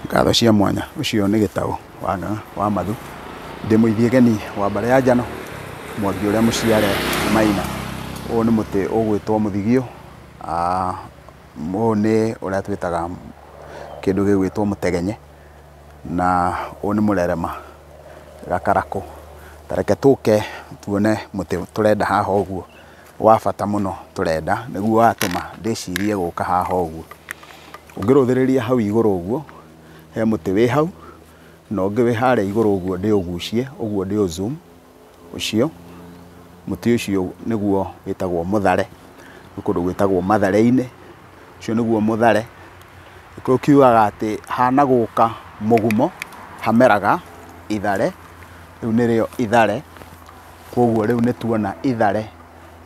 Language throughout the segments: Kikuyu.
Ngatho cia mwanya ũcio nĩ gĩtaũ wa ng'ang'a wa mathu ndĩ mũithie geni wa mbare ya njano mwangi ũrĩa mũciare maina ũyũ nĩ mũtĩ ũgwĩtwo mũthigio ah, ũyũ nĩ ũrĩa twĩtaga kĩndũ gĩgwĩtwo mũtegenye na ũyũ nĩ mũrerema gakarakũ tareke tũke tuone mũtĩ tũrenda haha ũguo. wa bata mũno tũrenda nĩguo watũma ndĩcirie gũka haha ũguo. Ũngĩrũthĩrĩria hau igũrũ ũguo, he mũtĩ wĩ hau, na ũngĩ wĩ harĩa igũrũ ũguo ndĩũgucie, ũguo ndĩũ zoom ũcio, mũtĩ ũcio nĩguo wĩtagwo mũthare, gwĩ kũndũ gwĩtagwo mathare-inĩ, ũcio nĩguo mũthare. Gĩkũyũ kiugaga atĩ hanagũka mũgumo hameraga ithare, rĩu nĩrĩo ithare. Kwoguo rĩu nĩ tuona ithare,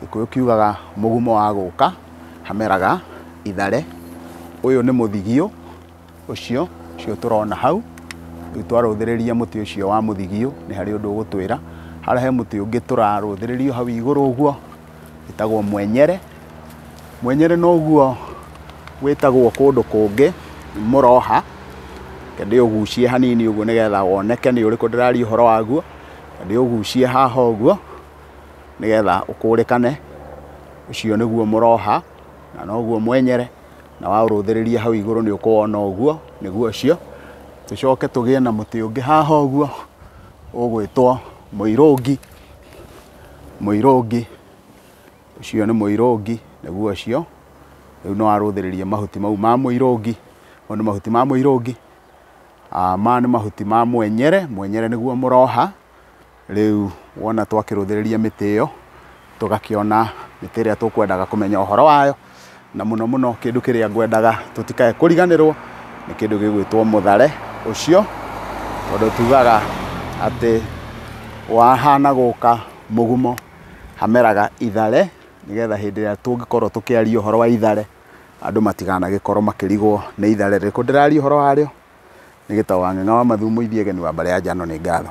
Gĩkũyũ kiugaga mũgumo wa gũka, hameraga ithare. Ũyũ nĩ mũthigio ũcio, ũcio tũrona hau. Rĩu twarũthĩrĩria mũtĩ ũcio wa mũthigio, nĩ harĩ ũndũ ũgũtwĩra. Harĩa he mũtĩ ũngĩ tũrarũthĩrĩria hau igũrũ ũguo, wĩtagwo mwenyere. Mwenyere noguo wĩtagwo kũndũ kũngĩ mũroha. Reke ndĩũgucie hanini ũguo nĩgetha woneke nĩ ũrĩkũ ndĩraria ũhoro waguo. Na ndĩũgucie haha ũguo nĩgetha ũkũrĩkane. Ũcio nĩguo mũroha na noguo mwenyere, na waũrũthĩrĩria hau igũrũ nĩ ũkũwona ũguo, nĩguo ũcio. Tũcoke tũgĩe na mũtĩ ũngĩ haha ũguo ũgwĩtwo mũirũngi, mũirũngi, ũcio nĩ mũirũngi, nĩguo ũcio. Rĩu nĩ warũthĩrĩria mahuti mau ma mũirũngi, mau nĩ mahuti ma mũirũngi, Maya nĩ mahuti ma mwenyere, mwenyere nĩguo mũroha, rĩu wona twakĩrũthĩrĩria mĩtĩ ĩyo, tũgakĩona mĩtĩ ĩrĩa tũkwendaga kũmenya ũhoro wayo, na mũno mũno kĩndũ kĩrĩa ngwendaga tũtikae kũriganĩrwo, nĩ kĩndũ gĩgwĩtwo mũthare ũcio, tondũ tugaga atĩ wahana gũka mũgumo, hameraga ithare, nĩgetha hĩndĩ ĩrĩa tũngĩkorwo tũkĩaria ũhoro wa ithare, Andũ matikanagĩkorwo makĩrigwo nĩ itharĩ rĩrĩkũ ndĩraria ũhoro warĩo, nĩ gĩtaũ wa ng'eng'a wa mathumu ithiĩ egeni wa mbarĩ ya njano nĩ ngatho.